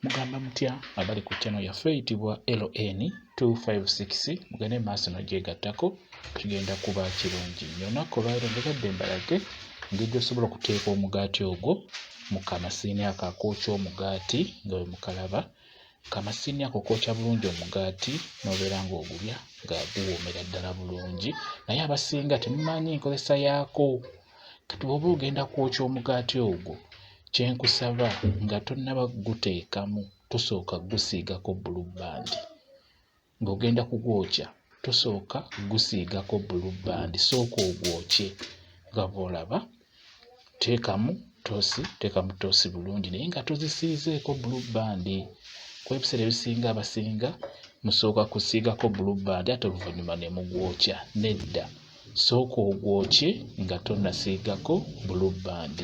Mugamba mutya abali ku channel yaffe eyitibwa LN 256 mugende maaso nogyegattako kigenda kuba kirungi nyo olunaku olwaliro njagadde mbalage engeri gyosobola okuteeka omugaati ogwo mu kamasiini ako akookya omugaati nga bwe mukalaba kamasiini ako kookya bulungi omugaati nobeera ng'ogulya nga guwoomera ddala bulungi naye abasinga temumanyi nkozesa yaako Kati bw'oba ogenda kwokya omugaati ogwo, kye nkusaba nga tonnaba kuguteekamu tosooka kugusiigako bbulubbandi. Ng'ogenda kugwokya tosooka kugusiigako bbulubbandi, sooka ogwokye nga bw'olaba. Teekamu ttoosi, teekamu ttoosi bulungi naye nga tozisiizeeko bbulubbandi kuba ebiseera ebisinga abasinga musooka kusiigako bbulubbandi ate oluvannyuma ne mugwokya. Nedda. sooka ogwokye nga tonasiigako blue band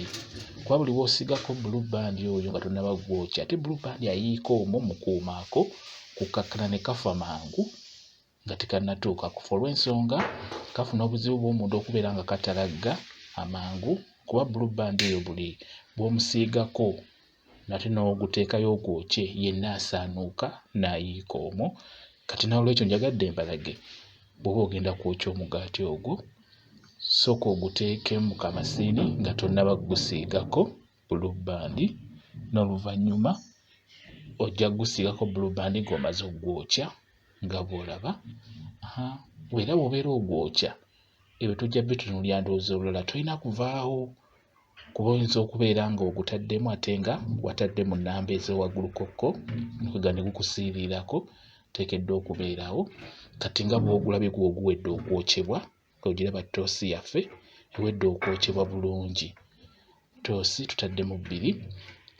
kuba buli wosiigako blue band oyo nga tonaba gwokya ate blue band ayiika omwo mukuumaako kukakkana ne kafa mangu nga tekanatuuka kufa olw'ensonga kafuna obuzibu bw'omunda okubeera nga katalagga amangu kuba blue band eyo buli bwomusiigako nate n'oguteekayo ogwokye yenna asaanuuka n'ayiika omwo. Kati n'olwekyo njagadde mbalage bw'oba ogenda kwokya omugaati ogwo sooka oguteeke mu kamasiini nga tonnaba kugusiigako bulubbandi n'oluvannyuma ojja kugusiigako bulubbandi ng'omaze okugwokya nga bw'olaba era bw'obeera ogwokya ebyo tojja bitunuulira ndowooza olulala tolina kuvaawo kuba oyinza okubeera nga ogutaddemu ate nga watadde mu nnamba ezewaggulukokko nga ne gukusiiriirako teekeddwa okubeerawo kati nga bwogulabye gwo oguwedde okwokyebwa ogiraba ttoosi yaffe ewedde okwokyebwa bulungi ttoosi tutaddemu bbiri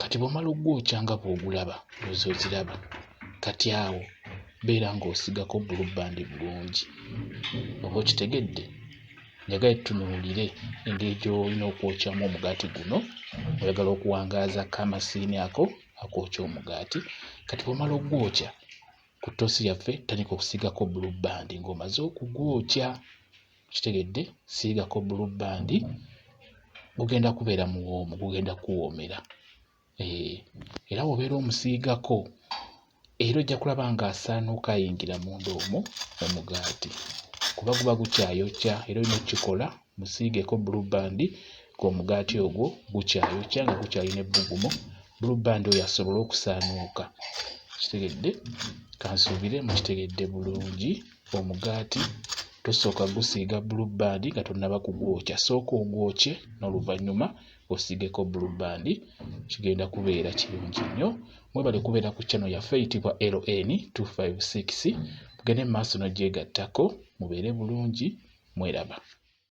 kati bwomala ogwokya nga bwogulaba ozi oziraba kati awo beera ng'osigako bbulubbandi bulungi oba okitegedde njagala tutunuulire engeri gy'olina okwokyamu omugaati guno oyagala okuwangaaza kamasiini ako akookya omugaati kati bwomala okugwokya ku ttoosi yaffe tandika okusiigako blue band ng'omaze okugwokya kitegedde siigako blue band gugenda kubeera muwoomu gugenda kuwoomera Eh, era wobeera omusiigako era ojja kulaba ng'asaanuuka ayingira munda omwo omugaati kuba guba gukyayokya era olina okukikola musiigeko bulubandi ng'omugaati ogwo gukyayokya nga gukyalina ebbugumu bulubandi oyo asobole okusaanuuka kitegedde kansuubire mukitegedde bulungi omugaati tosooka gusiiga bulubandi nga tonnaba kugwokya sooka ogwokye n'oluvannyuma osigeko blue band kigenda kubeera kirungi nnyo mwebale kubeera ku channel yaffe eyitibwa ln 256 mugende mu maaso nogyegattako mubeere bulungi mweraba